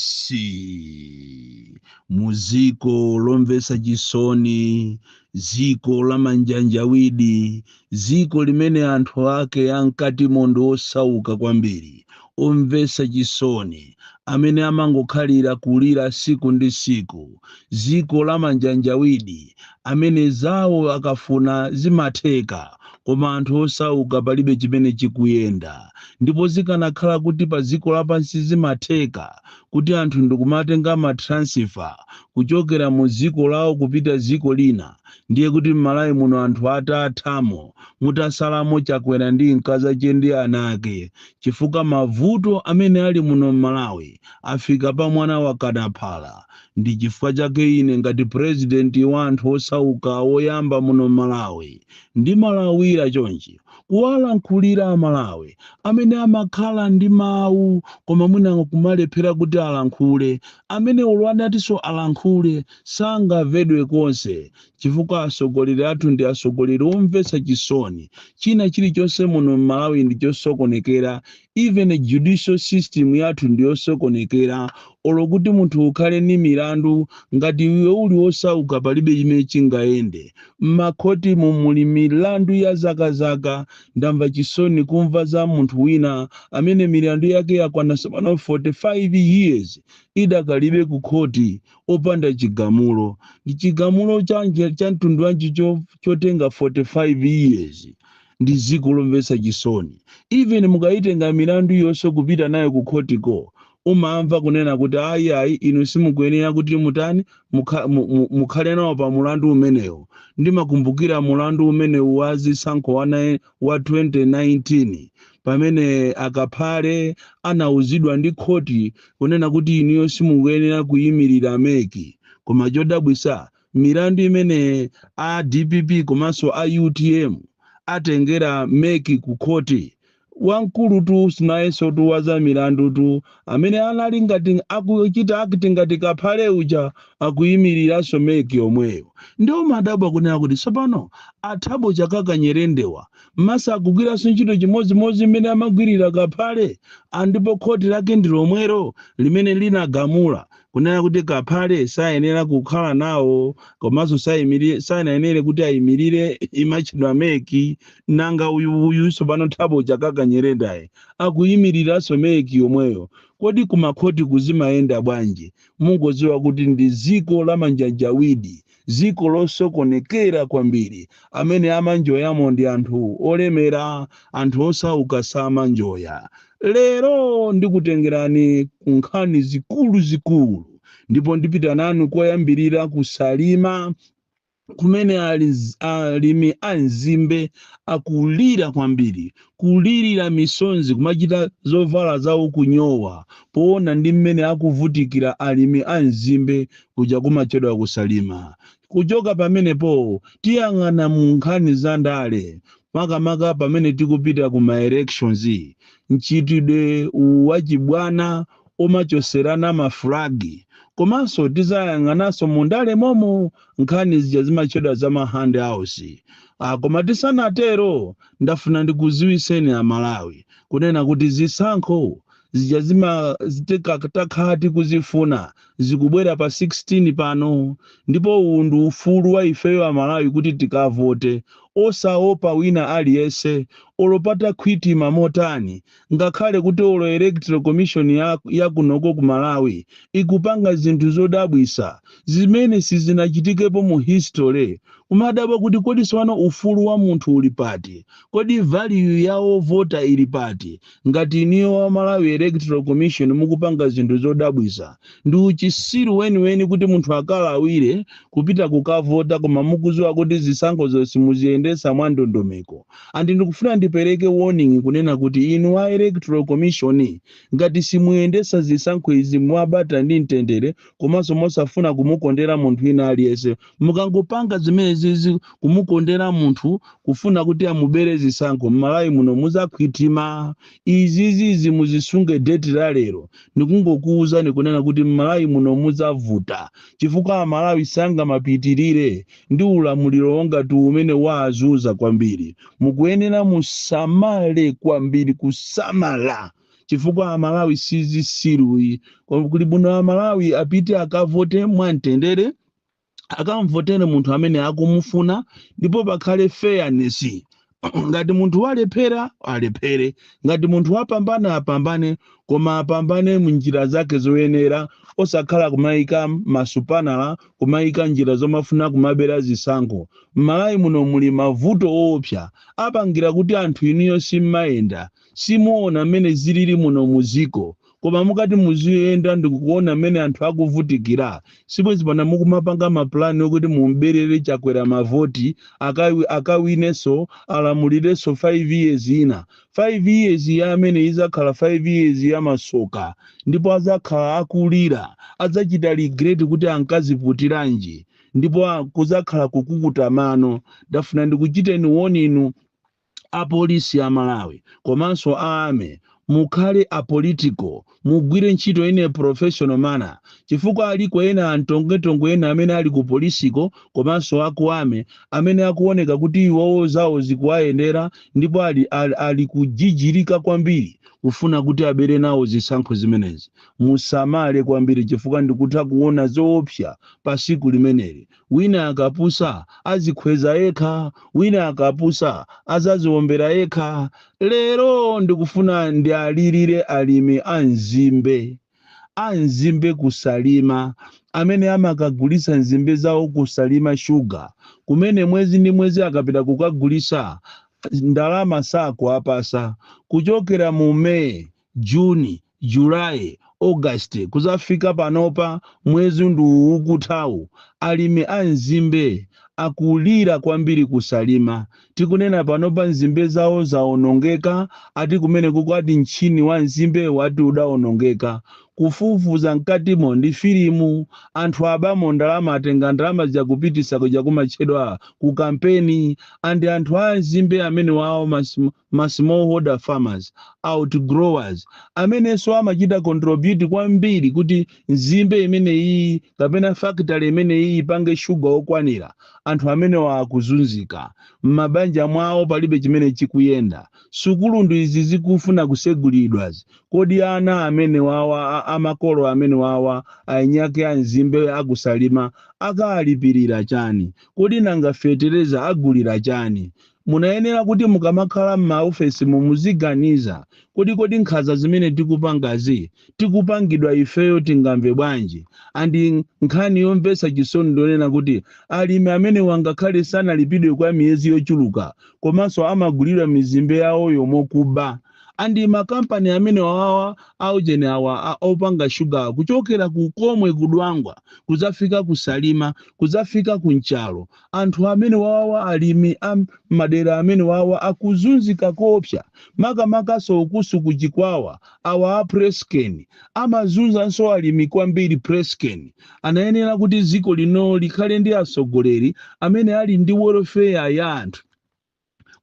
isi muziko lomvesa chisoni ziko la manjanjawidi ziko limene anthu ake ankati mondo osauka kwambiri omvesa chisoni amene amangokhalira kulira siku ndi siku ziko la manjanjawidi amene zawo akafuna zimatheka Koma anthu osauka palibe chimene chikuyenda ndipo zikanakhala kuti pa dziko lapansi zimatheka kuti anthu ndikumatenga ma transfer kuchokera mu dziko lawo kupita dziko lina ndiye kuti mmalawi muno anthu atathamo mutasalamo chakwera ndi mkazache ndi ana ake chifukwa mavuto amene ali muno mmalawi afika pa mwana wakana phala ndichifukwa chake ine ngati president wa anthu osauka woyamba muno mmalawi Ndimalawira chonchi kuwalankhulira a Malawi amene amakhala ndi mawu koma mwina kumalephera kuti alankhule, amene olo atatinso alankhule sangamvedwe konse chifukwa atsogoleri athu ndi atsogoleri omvetsa chisoni, china chilichonse muno m'Malawi ndi chosokonekera even judicial system yathu ndiyosokonekera olo kuti munthu ukhale ni milandu ngati iwe uli wosauka palibe chimene chingayende mmakhotimo muli milandu ya zakazaka ndamva chisoni kumva za munthu wina amene milandu yake yakwana sopano 45 years idakalibe ku khoti opanda chigamulo ndi chigamulo chanji cha mtundu wanji cho- chotenga 45 years ndi dziko lomvetsa chisoni even mukayitenga milandu yonse kupita nayo ku khotiko umamva kunena kuti ayi ayi inu simukuyenera kuti mutani mukha- mu- mu- mukhale nawo pa mulandu umenewu ndimakumbukira mulandu umenewu wa zisankho wa nai- wa 2019 pamene a kaphale anauzidwa ndi khoti kunena kuti inuyo simukuyenera kuyimirira mec koma chodabwisa milandu imene a dpp komanso a utm atengera mec ku khoti wamkulutu si nayensotu wa za milandutu amene anali ngati akuchita act ngati kaphale uja akuyimiriranso mec yomweyo ndiye umadabwa kunena kuti tsopano a thabo chakaka nyirendawa mesa akugwiranso ntchito chimodzimodzi mmene amagwirira kaphale ndipo khoti lake ndi lomwero limene linagamula kunena kuti Kaphale sayenera kukhala nawo komanso saimiri- sanayenere kuti ayimirire imatchedwa mec nanga uyu uyu tsopano Thabo Chakaka Nyirendayu akuyimiriranso mec yomweyo kodi kumakhotiku zimayenda bwanji mungodziwa kuti ndi dziko la manjanjawidi ziko losokonekera kwambiri, amene amanjoyamo ndi anthu olemera, anthu osauka samanjoya. Lero ndikutengerani ku nkhani zikuluzikulu ndipo ndipita nanu koyambirira ku Salima kumene ali- alimi a mzimbe akulira kwambiri Kulirira misonzi kumachita zovala zawo kunyowa poona ndi mmene akuvutikira alimi a mzimbe kuja kumatchedwa ku Salima. Kuchoka pamenepo tiyang'ana mu nkhani za ndale makamaka pamene tikupita ku ma elections, mchitidwe uwu wa chibwana omachoserana ma flag komanso tizayang'ananso mu ndale momo nkhani zija zimatchedwa za ma handouts ah, koma tisanatero ndafuna ndikuziwiseni a Malawi kunena kuti zisankho zija takhala tikuzifuna zikubwera pa 16 pano ndipo uwu ndi ufulu wa ifeyo a Malawi kuti tikavote osaopa wina aliyense olo patakhwitima motani Ngakhale kuti olo electoral commission ya kunoko ku Malawi ikupanga zinthu zodabwisa zimene sizinachitikepo mu history, kumadabwa kuti kodi sopano ufulu wa munthu uli pati? Kodi value ya ovota ili pati ngati inuyo wa Malawi electoral commission mukupanga zinthu zodabwisa? Ndi uchisiru weniweni kuti munthu akalawire kupita kukavota koma mukuziwa kuti zisankhozo simuziyendesa mwa ndondomeko. and ndikufuna ndipereke warning kunena kuti inu wa electoral commission ngati simuyendesa zisankho izi mwabata ndi mtendere komanso mosafuna kumukondera munthu wina aliyense mukangopanga zimene zizi kumukondera munthu kufuna kuti amubere zisankho mmalawi muno muzakhwitima izizizi muzisunge deti la lero ndikungokuwuzani kunena kuti mmalawi muno muzavuta chifukwa amalawi sangamapitirire ndi ulamuliro wonga uwu umene waazunza kwambiri mukuyenera musamale kwambiri kusamala chifukwa amalawi sizisiru yi kuli bwino amalawi apite akavote mwamtendere akamvotere munthu amene akumufuna ndipo pakhale fairness ngati munthu walephera alephere ngati munthu wapambana apambane koma apambane munjira zake zoyenera osakhala kumayika masupanala kumayika njira zomafuna kumabera zisankho m'malawi muno muli mavuto oopsa apangira kuti anthu inuyo simmayenda Simuona mmene zilili muno mu dziko koma mukati muziyenda ndikuona mmene anthu akuvutikila sibwezi pano mukumapanga ma plan okuti mum'belele Chakwera ma voti akawinenso alamulilenso 5 years ina 5 years ya ameneyi izakhala 5 years ya masoka ndipo azakhala akulila adzachita regret kuti ankaziputilanji ndipo kuzakhala kukukuta mano ndafuna ndikuchiteni warn inu a police a Malawi komanso a army mukhale apolitical mugwire ntchito in a professional manner chifukwa aliko ena antongetongwe ena amene ali ku polisiko komanso a ku army amene akuoneka kuti iwowo zawo zikuwayendera ndipo ali, ali, ali kujijirika kwambiri kufuna kuti abere nawo zisankho zimenezi musamale kwambiri chifukwa ndikutha kuona zoopsa pa siku limeneli Wina akapusa azikhweza yekha, wina akapusa azaziombera yekha. Lero ndikufuna ndialilire alimi a nzimbe. A nzimbe ku Salima amene amakagulitsa nzimbe zawo ku Salima Sugar kumene mwezi ndi mwezi akapita kukagulitsa ndalama sakuwapasa. Kuchokera mu May June, July, August kuzafika panopa mwezi ndi uwu ukuthawu alimi a nzimbe akulira kwambiri ku Salima tikunena panopa nzimbe zawo zaonongeka ati kumenekuko ati mtchini wa nzimbe wati udaonongeka kufufuza mkatimo ndi filimu anthu abamo ndalama atenga ndalama zija akupitisa kuja kumatchedwa ku kampeni and anthu a nzimbe amenewawa mas ma smallholder farmers, outgrowers, amenenso amachita contribute kwambiri kuti nzimbe imeneyiyi kapena factory imeneyiyi ipange sugar okwanira, anthu amenewa akuzunzika, mmabanja mwawo palibe chimene chikuyenda, sukulu ndi izi zikufuna kusegulidwa, kodi ana amenewawa a a makolo amenewawa ainiake a nzimbe a ku Salima akalipilira chani? Kodi nanga fetereza agulira chani? Munayenera kuti mukamakhala m'maofesimu muziganiza kodi kodi nkhaza zimene tikupangazi tikupangidwa ifeyo tingamve bwanji and nkhani yomvetsa chisoni ndiyonena kuti alimi amenewa ngakhale sanalipidwe kwa miyezi yochuluka komanso amagulilidwa mizimbe yawoyo mokuba and ma company amenewawa aujeni awa a opanga sugar kuchokera ku komwe ku dwangwa kuzafika ku salima kuzafika ku nchalo Anthu amenewawa alimi a mmadera amenewawa akuzunzika koopsa makamakanso ukuso ku chikwawa awa a Presscane amazunzanso alimi kwambiri Presscane anayenera kuti ziko lino likhale ndi atsogoleri amene ali ndi welfare ya anthu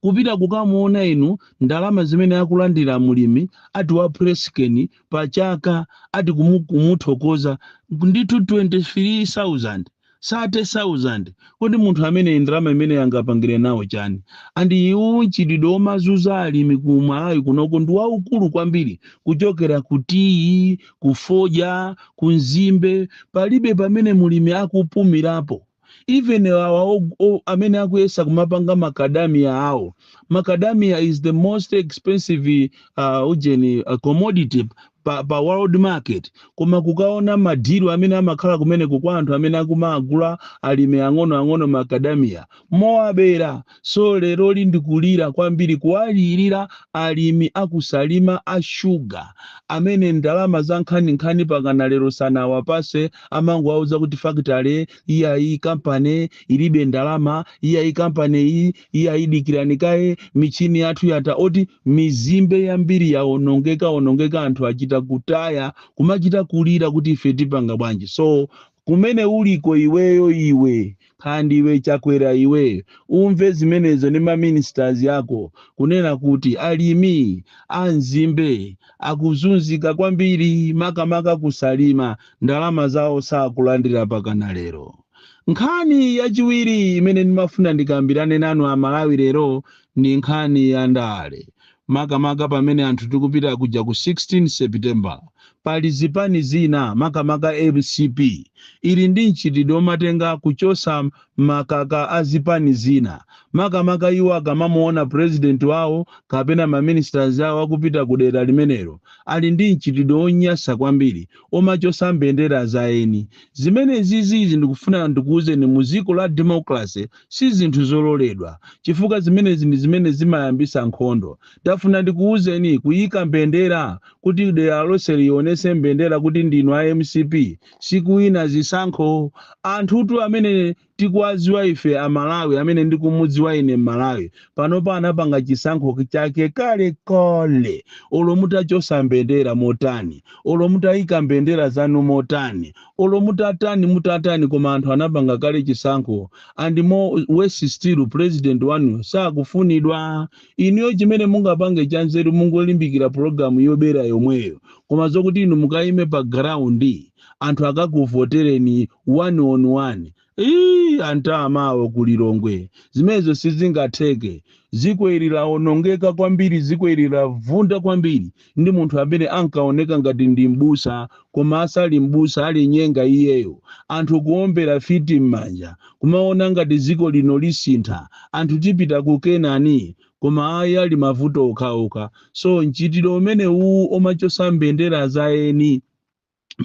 kupita kukamuona inu ndalama zimene akulandira mulimi ati wa Press Cane pa chaka ati kumu, kumuthokoza ndithu 23000 30000 kodi munthu amene ndalama imeneyi angapangire nawo chani and uwu mchitidwe omazuza alimi ku malawi kunoko ndi waukulu kwambiri kuchokera ku tiyi ku fodja ku nzimbe palibe pamene mulimi akupumirapo even awa o- o- amene akuyesa kumapanga macadamia awo macadamia is the most expensive uh, ujeni uh, commodity pa, pa world market koma kukaona madilu amene amakhala kumeneko kwa anthu amene akumawagula alimi ang'onoang'ono macadamia mowabera So lero ndikulira kwambiri kuwalirira alimi a ku Salima a sugar amene ndalama za nkhaninkhani pakana lero sanawapatse amangowauza kuti factory iyayi company ilibe ndalama iyayi company iyayi dikirani kaye michini yathu yata oti mizimbe yambiri yaonongeka onongeka anthu achita kutaya kumachita kulira kuti ife tipanga bwanji so kumene uliko iweyo iwe nkhandwe chakwera iwe umve zimenezo ndi ma ministers ako kunena kuti alimi a nzimbe akuzunzika kwambiri makamaka ku salima ndalama zawo sakulandira pakana lero nkhani yachiwiri imene ndimafuna ndikambirane nanu amalawi lero ndi nkhani ya ndale Makamaka pamene anthu tikupita kuja ku 16 September, pali zipani zina makamaka mcp ili ndi mchitidwe omatenga kuchosa makaka a zipani zina makamaka iwo akamamuona president wawo kapena ma ministers awo akupita ku dera limenelo, ali ndi mchitidwe onyasa kwambiri omachosa mbendera za eni. Zimenezizi ndikufuna ndikuuzeni mu dziko la democracy si zinthu zololedwa chifukwa zimenezi ndi zimene zimayambisa nkhondo. Tafuna ndikuuzeni kuyika mbendera kuti dera lonseli ionese mbendera kuti ndinu a mcp sikuwina zisankho. Anthutu amene tikuwaziwa ife a Malawi amene ndikumudziwa ine Mmalawi panopa anapanga chisankho chake kale kale olo mutachosa mbendera motani olo mutayika mbendera zanu motani olo mutatani mutatani koma anthu anapanga kale chisankho and more worse still president wanu sakufunidwa inuyo chimene mungapange chanzeru mungolimbikira pulogalamu yobera yomweyo koma zokuti inu mukayime pa ground anthu akakuvotereni one on one Iii anyamatawo ku Lilongwe zimenezo sizingatheke. Dziko ili lawonongeka kwambiri, dziko ili lavunda kwambiri ndi munthu amene ankaoneka ngati ndi m'busa koma asali m'busa alinyenga iyeyo. Anthu kuombera fiti m'manja kumaona ngati dziko lino lisintha, anthu tipita ku Kenani. Koma ayi ali mavuto okhaokha. So mchitidwe umenewuwu omachotsa mbendera za eni.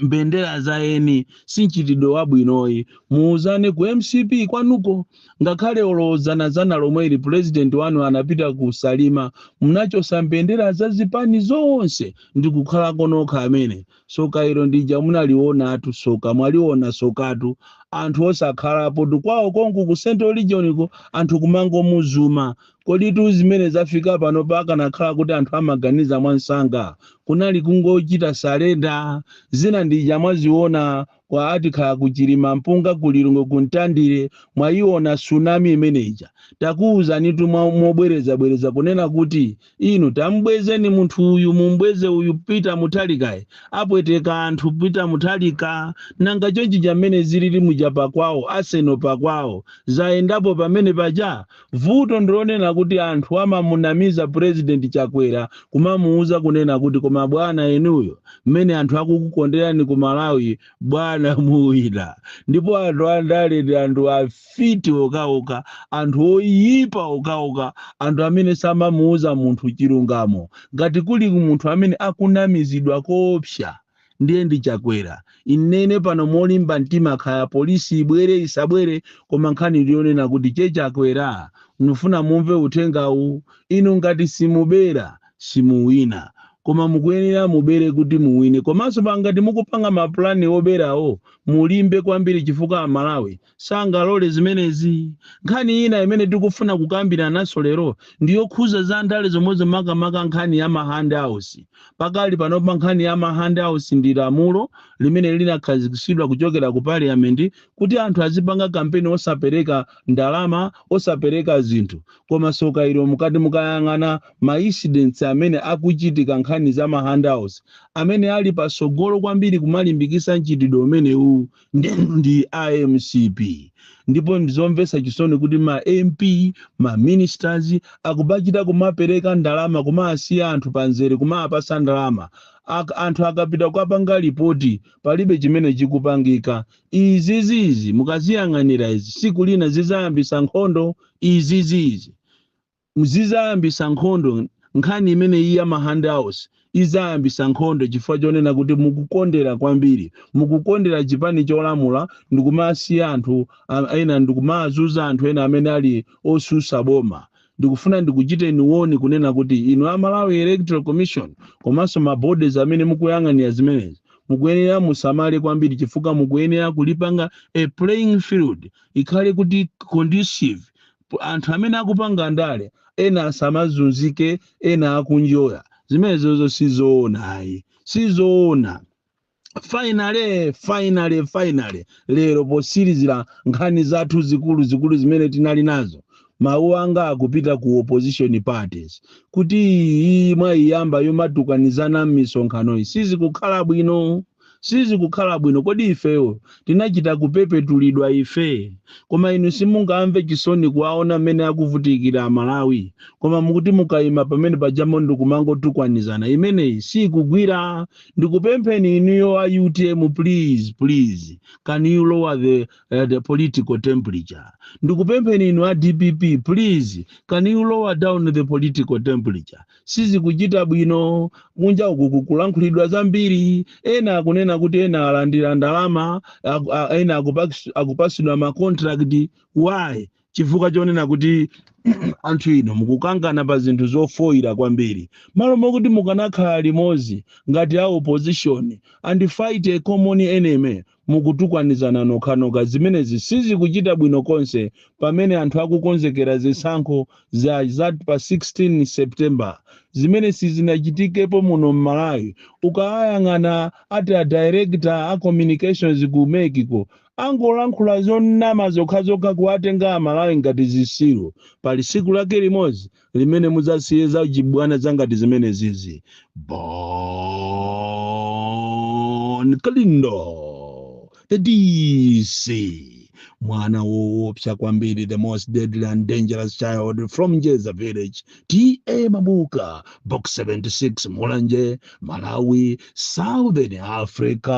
mbendera za eni si mchitidwe wabwinoyi muuzane ku mcp kwanuko ngakhale olo dzana dzana lomwe ili pulezidenti wanu anapita ku salima munachosa mbendera za zipani zonse ndi kukhala ko nokha amene tsoka ilo ndija munalionatu tsoka mwaliona tsokatu anthu osakhalapo tu kwawo konku ku central regioniko anthu kumangomuzuma Koditu zimene zafika panopa akanakhala kuti anthu amaganiza mwamsanga kunali kungochita surrender. Zina ndija mwaziona kwa atikhala ku Chilimampunga ku lilongwe ku mtandire mwaiona tsunami imene ija takuuzanitu mobwereza bwereza kunena kuti inu tamubwezeni munthu uyu mumubweze uyu peter muthalikayi apweteka anthu peter muthalika nanga chonchija mmene zilili muja pakwawo a Senior pakwawo zayendapo pamene paja Vuto ndilonena kuti anthu amamunamiza president chakwera kumamuuza kunena kuti koma bwana inuyo mmene anthu akukukonderani ku malawi bwana muwina ndipo anthu andale ndi anthu afiti okhaokha anthu oyipa okhaokha anthu amene samamuuza munthu chilungamo ngati kuli munthu amene akunamizidwa koopsa ndiye ndi Chakwera. Ndinene pano molimba mtima kaya police ibwere isabwere koma nkhani ndiyonena kuti che Chakwera ndifuna mumve uthengawu inu ngati simubera simuwina koma mukuyenera mubere kuti muwine komanso ngati mukupanga ma plan oberawo mulimbe kwambiri chifukwa a Malawi sangalole zimenezi. Nkhani ina imene tikufuna kukambirananso lero ndi yokhuza za ndale zomwezo makamaka nkhani ya ma hand outs. Pakali panopa nkhani ya ma hand outs ndi lamulo limene linakhazikitsidwa kuchokera ku parliament kuti anthu azipanga kampeni osapereka ndalama, osapereka zinthu. Koma tsoka ilo mukati mukayang'ane ma incidents amene akuchitika nkhani za ma hand outs, amene ali patsogolo kwambiri kumalimbikitsa mchitidwe umenewuwu ndi, ndi a mcp ndipo ndizomvetsa chisoni kuti ma mp ma ministers akubachita kumapereka ndalama kumasiya anthu pamzere kumapasa ndalama anthu akapita kukapanga lipoti palibe chimene chikupangika izizizi mukaziyang'anira izi tsiku lina zidzayambisa nkhondo izizizi Zidzayambitsa nkhondo, nkhani imeneyi ya ma handouts idzayambitsa nkhondo chifukwa chonena kuti mukukondera kwambiri, mukukondera chipani cholamula ndikumasiya anthu ena, ndikumazuza anthu ena amene ali otsutsa boma. Ndikufuna ndikuchiteni warn kunena kuti inu a Malawi Electoral Commission komanso ma bodies amene mukuyang'anira zimenezi, mukuyenera musamale kwambiri chifukwa mukuyenera kulipanga a playing field ikhale kuti conducive anthu amene akupanga ndale ena asamazunzike ena akunjoya zimenezozo sizoona ayi sizoona finally finally finally lero posilizira nkhani zathu zikuluzikulu zimene tinali nazo mawu anga akupita ku opposition parties kuti iyi mwaiyamba yomatukanizana m'misonkhanoyi sizikukhala bwino Sizikukhala bwino. Kodi ifeyo tinachita kupepetulidwa ife? Koma inu simungamve chisoni kuwaona mmene akuvutikira a Malawi? Koma mukuti mukaima pamene paja mmo ndikumangotukwanizana? Imeneyi siikugwira. Ndikupempheni inuyo a utm please please can you lower the, uh, the political temperature. Ndikupempheni inu a dpp please can you lower down the political temperature. sizikuchita bwino kunja uku kukulankhulidwa zambiri ena akunena kuti ena alandira ndalama aku- a- ena akupax- akupasidwa ma contract why chifukwa chonena kuti anthu inu mukukangana pa zinthu zofoyira kwambiri malo mokuti mukanakhala limodzi ngati a opposition and fight a common enemy Mukutukwanizana nokhanokha. Zimenezi sizikuchita bwino konse pamene anthu akukonzekera zisankho za za pa 16 September zimene sizinachitikepo muno m'Malawi. Ukawayang'ana ati a director a communications ku mec ko, angolankhula zonama zokhazokha kuwatenga a Malawi ngati zisiru. Pali tsiku lake limodzi limene mudzasiye za chibwana zangati zimenezizi bon kalindo the dc mwana woopsa kwambiri the most deadly and dangerous child from jeza village ta mabuka box 76 mulanje malawi southern africa